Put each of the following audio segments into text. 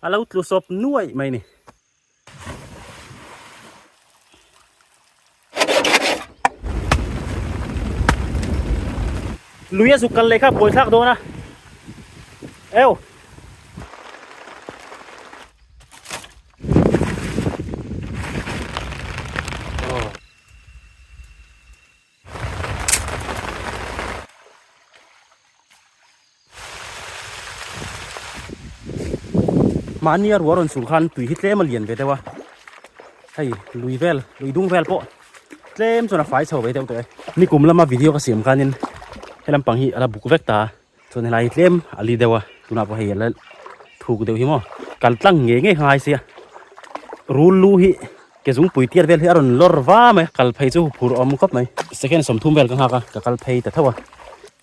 A lo tlu sawp nuaih mai ni. Lui a suk kal leh kha pawi thlak dawn a. Eu. mahni a rua rawn sul khan tui hi tlem a lian ve deuh a hei lui vel lui dung vel pawh tlem chuan a fai chho ve deuh tawh e ni kum lama video ka siam khanin he lampang hi ala buk vek ta chuan helai hi tlem a li deuh a tunah pawh hei ala thuk deuh hi maw kal tlang nge nge ngai sia rul lu hi ke zung pui tiar vel hi a rawn lawr va mai kal phei chu phur awm khawp mai second sawmthum vel ka nghak a ka kal phei ta theuh a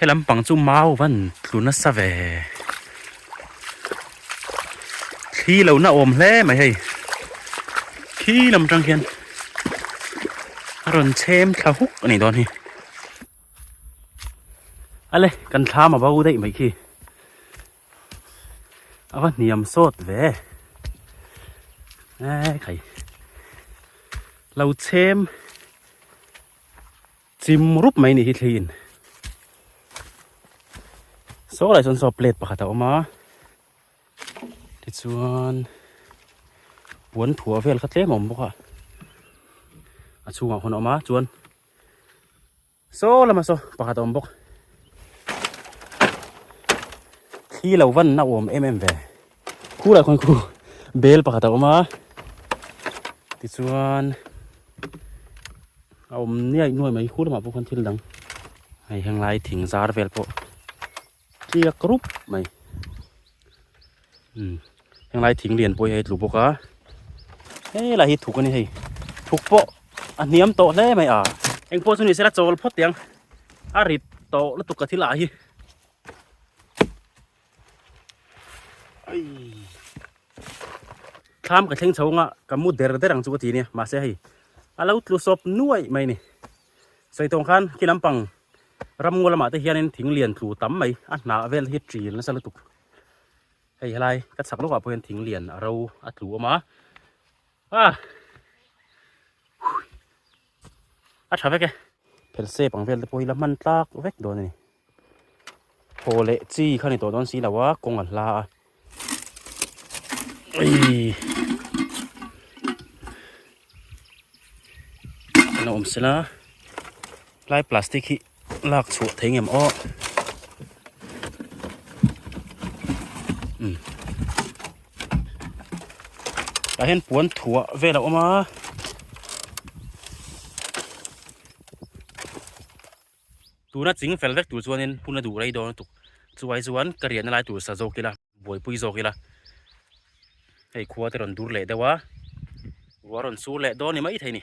helampang chu mau van tlu nasa ve thli lo na awm hle mai hei khi lam tang khian a rawn chhem thla huk a nih dawn hi. ale kan thla mavo daih mai khi ava hniam sawt ve ai khai lo chem chim rup mai ni hi thliin so lai son so plate pakhat a awm a tichuan puan thua vel kha tlem a awm bawk a a chhungah hun a awm a chuan Saw lama saw pakhat a awm bawk. Thli lo vanna a awm em em ve. Khu lah khawn khu bel pakhat a awm a. Tichuan a awm niai nuai mai khu lamah pawh khawn thil dang. Hei heng lai thing zar vel pawh. tliak rup mai umm heng lai thing lian pawhin a tlu bawk a hei lah hi thuk a ni hei thuk pawh a hniam tawh hle mai a eng pawh chu ni se la chawl phawt tiang a rit tawh lutuk ka thil ah hi ai thlam ka thleng chho anga ka mu der der ang chu ka ti ania mahse hei a lo tlu sawp nuaih mai a ni Saitawng khan khi lampang ramngaw lamah te hianin thing lian tlu tam mai a hna vel hi ṭil nasa lutuk hei helai ka chak lawkah pawhin thing lian a ro a tlu awm a a a tha vek e phel sep ang vel te pawh hi la hman tlak vek dawn a ni. Haw leh chi kha ni tawh dawn si lo a, kawng a hla a. Ui! Kan awm se la. Lai plastic hi lak chhuah thei ngam aw. Tah hian puan thuah vel a awm a. Tuna ching fel vek tur chuanin hmun a duh rei dawn lutuk. Chuvai chuan ka riahna lai tur sa zawk ila, buaipui zawk ila hei khua te rawn dur leh deuh a, ruah rawn sur leh dawn ni mai thei ni.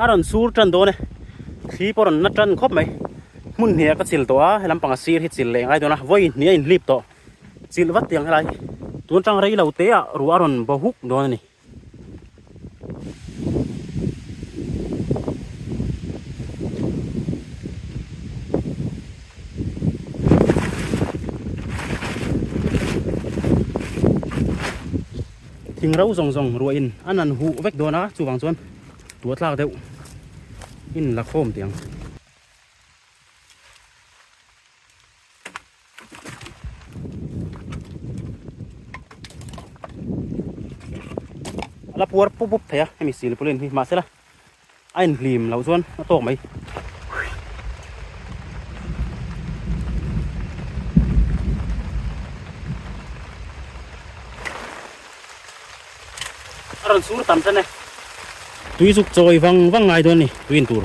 a rawn sur tan dawn e thli pawh rawn na tan khawp mai hmun hnih ah ka chil tawh a he lampang a sir hi chil leh ngai dawn a vawiin hnih a in hlip tawh chilh vat tiang helai hi tun atang rei lo te ah ruah a rawn bo huk dawn a ni Thing ro zawng zawng ruah in an an huh vek dawn a, chuvang chuan tua tlak deuh in la khawm tih ang. A la puar pup pup thei a hemi silpulin hi, mahsela A in hlim loh chuan a tawk mai. A rawn sur tam chen e. Tui zuk chawi vang vang ngai dawn a ni tui in tur.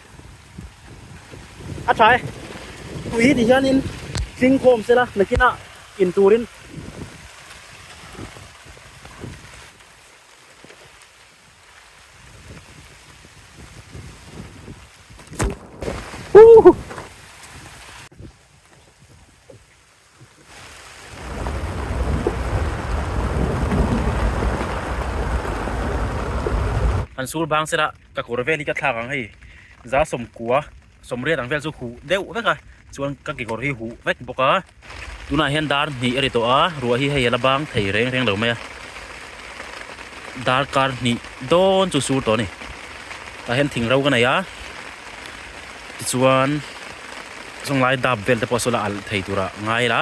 a tha e tui hi ti hianin tling khawm sela nakina in turin An sul bang sera ka kawr vel hi ka thlak ang hei za sawmkua sawmriat ang vel chu huh deuh vek a chuan ka kekawr hi huh vek bawk a tunah hian dar hnih a ri tawh a ruah hi hei a la bang thei reng reng lo mai a dar kar hnih dawn chu sur tawh a ni tah hian thing ro ka nei a. Tichuan zawnglai dap vel te pawh saw la alh thei tur a ngai la.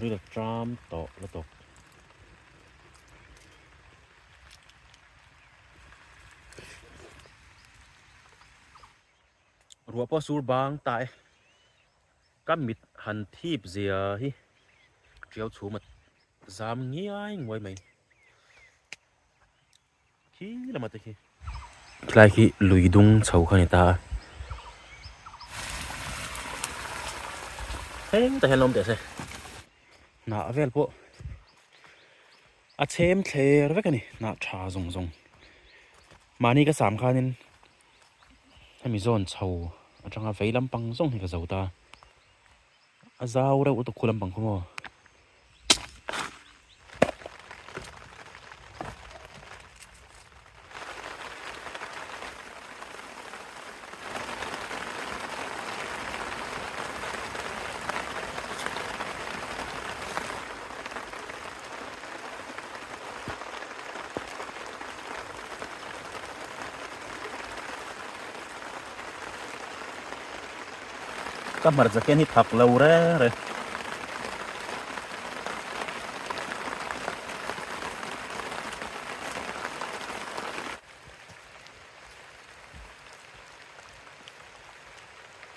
Ril tram tawh lutuk. Ruah pawh a sur bang ta e. Ka mit han thip zia hi ṭiau chhum a zam ngiai nguai mai. Khi lama te khi. Tlai khi lui dung chho kha ni ta a. Heng ta hian lawm teh se. Hnah vel pawh a chhem thler vek a ni, hnah ṭha zawng zawng. Mahni ka sam khanin. hemi zawn chho atanga vei lampang zawng hi ka zo ta a zau reuh lutuk khu lampang khawmaw Ka hmarcha khian hi phak lo re re.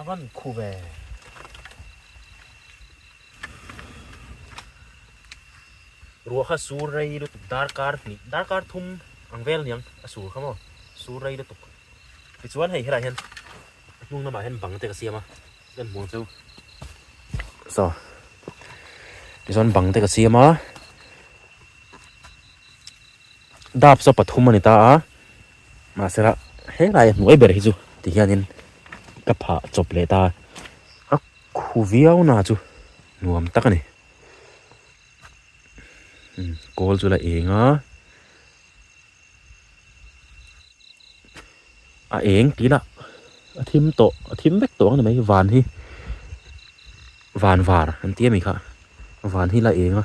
A rawn khup e. Ruakha sur rei lutuk darkar hnih darkar thum ang vel niang a sur kha maw? Sur rei lutuk. Tichuan hei helah hian a hnung lamah hian bang te ka siam a. Kan hmuh ang chu. So. Tichuan bang te ka siam a. Dap chu pathum a ni ta a. Mahsela helai a hnuai ber hi chu ti hianin ka phah chawp leh ta a khu viau na chu nuam tak a ni kawl chu la eng a a eng tih ila a thim tawh a thim vek tawh ang ni mai hi van hi van var an tia mai kha van hi la eng a.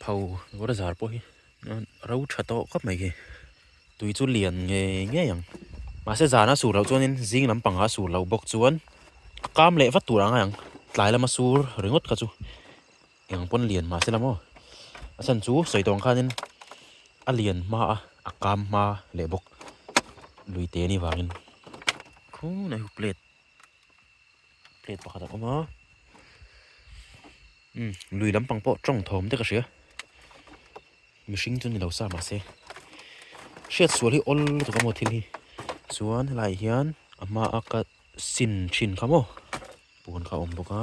Pho rawra zar pawh hi ro tha tawh khawp mai hi. Tui chu lian ngei ngei ang. Mahse zana sur loh chuanin zing lampanga sur lo bawk chuan a kam leh vat tur ang ang. Tlai lama sur ringawt kha chu eng pawn lian mahse la maw. A chhan chu sawi tawng khanin a lian hma a, a kam hma leh bawk. Lui te ni vangin. Khung a hu plate. plate pakhat a awm a umm lui lampang pawh tawng thawm dek a hria mihring chu ni lo sa mah se hriat sual hi awl lutuk a maw thil hi chuan helaiah hian a hmaa ka sin thin kha maw puan kha a awm bawk a.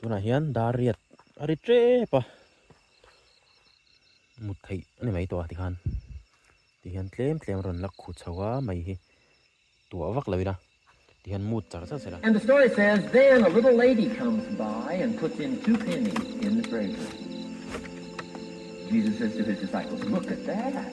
tunah hian dar riat a ri ṭep a mut theih a ni mai tawh a tikhan tihian tlem tlem a rawn lak khuh chho a mai hi tuah vak lo ila tihian mut char char sela. And the story says then a little lady comes by and puts in two pennies in the brazier Jesus says to his disciples look at that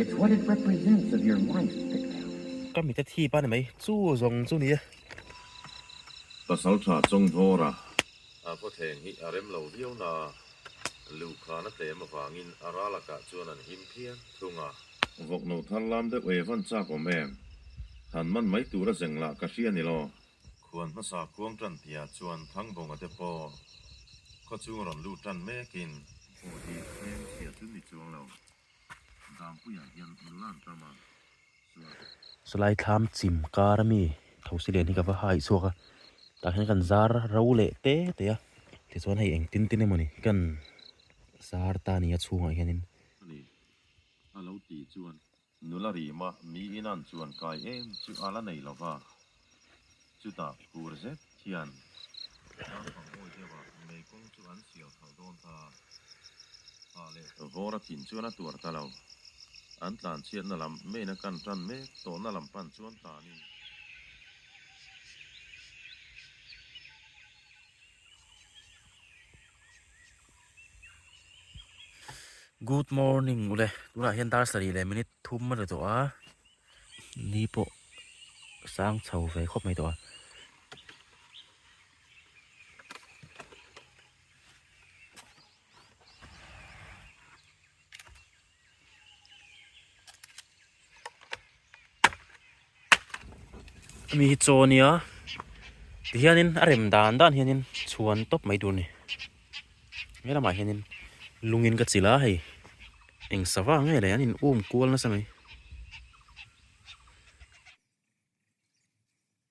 It's what it represents of your life that counts. Ka mite thip a ni mai chu zawng chu nia. Pasal tha chawng hnawr a. A khuatheng hi a rem lo viau na. Luh khan a tlem avangin a ra lakah chuan an him phian thung a. Vawk no thar lam deuh e, van chak awm em? Han man mai tura zeng lah ka hria ni law. Khuan hmasa khuang tan tia chuan thang bawngah te pawh khaw chung rawn lut tan mekin. Aw hi heng tia chu ni chuang lo. Dam puiah hian nulan tama chuan. Salai thlam chim kar ami thosi len hi ka va hai chhuak a, tah hian kan zar ro leh te te a, tichuan hei eng tin tin emawni kan zar ta nia chhungah hianin. Ani a lo tih chuan. Nula ri mah mi inan chuan kai em chu a la nei lo va, chutah tur zet hian Ram Pangbawi deuha mei kawng chu an sial thar dawn ta a, hah leh vawra thin chuan a tuar ta lo, an tlanchhiatna lam meina kan tan mek tawhna lam pan chuan ta ni. Good morning ule tunah hian darslari leh minute thum a ni tawh a ni pawh sang chho ve khawp mai tawh a mi hi chaw nia ti hianin a rem dan dan hianin chhuan tawp mai tur ni he lamah hianin lungin ka chilh a hei eng sava nge leh an inum kual nasa mai.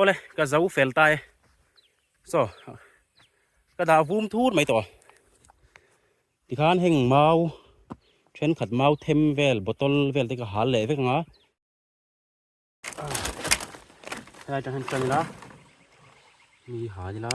ole ka zo fel tai so ka da vum thur mai to Tikhan heng mau thenkhat mau them vel bottle vel te ka hal leh vek anga helai tang hian chang ila mi hal ila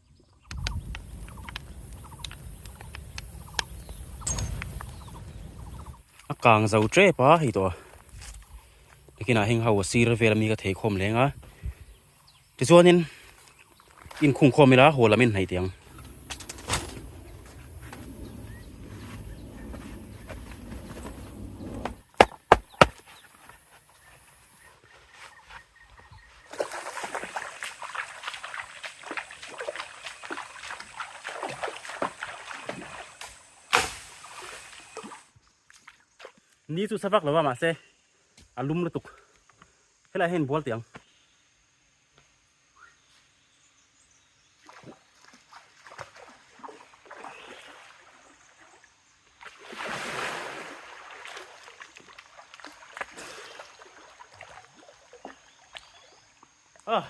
a kang zo tep a hei tawh biakinah heng ho sir vel ami ka thei khawm leng a tichuanin inkhung khawm ila haw lam in hnaih theih ang ni chu sa vak lo a mahse a lum lutuk helaiah hian bual tih ang. Ah,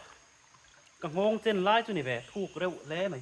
ka nghawng chen lai chu ni ve, thuk reuh hle mai.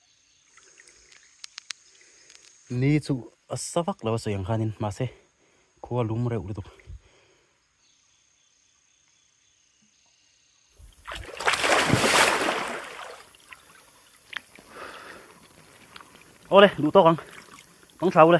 ni chu a sa vak lo a sawi ang khanin mahse khua lum reuh lutuk awle duh tawk ang awng tha ula.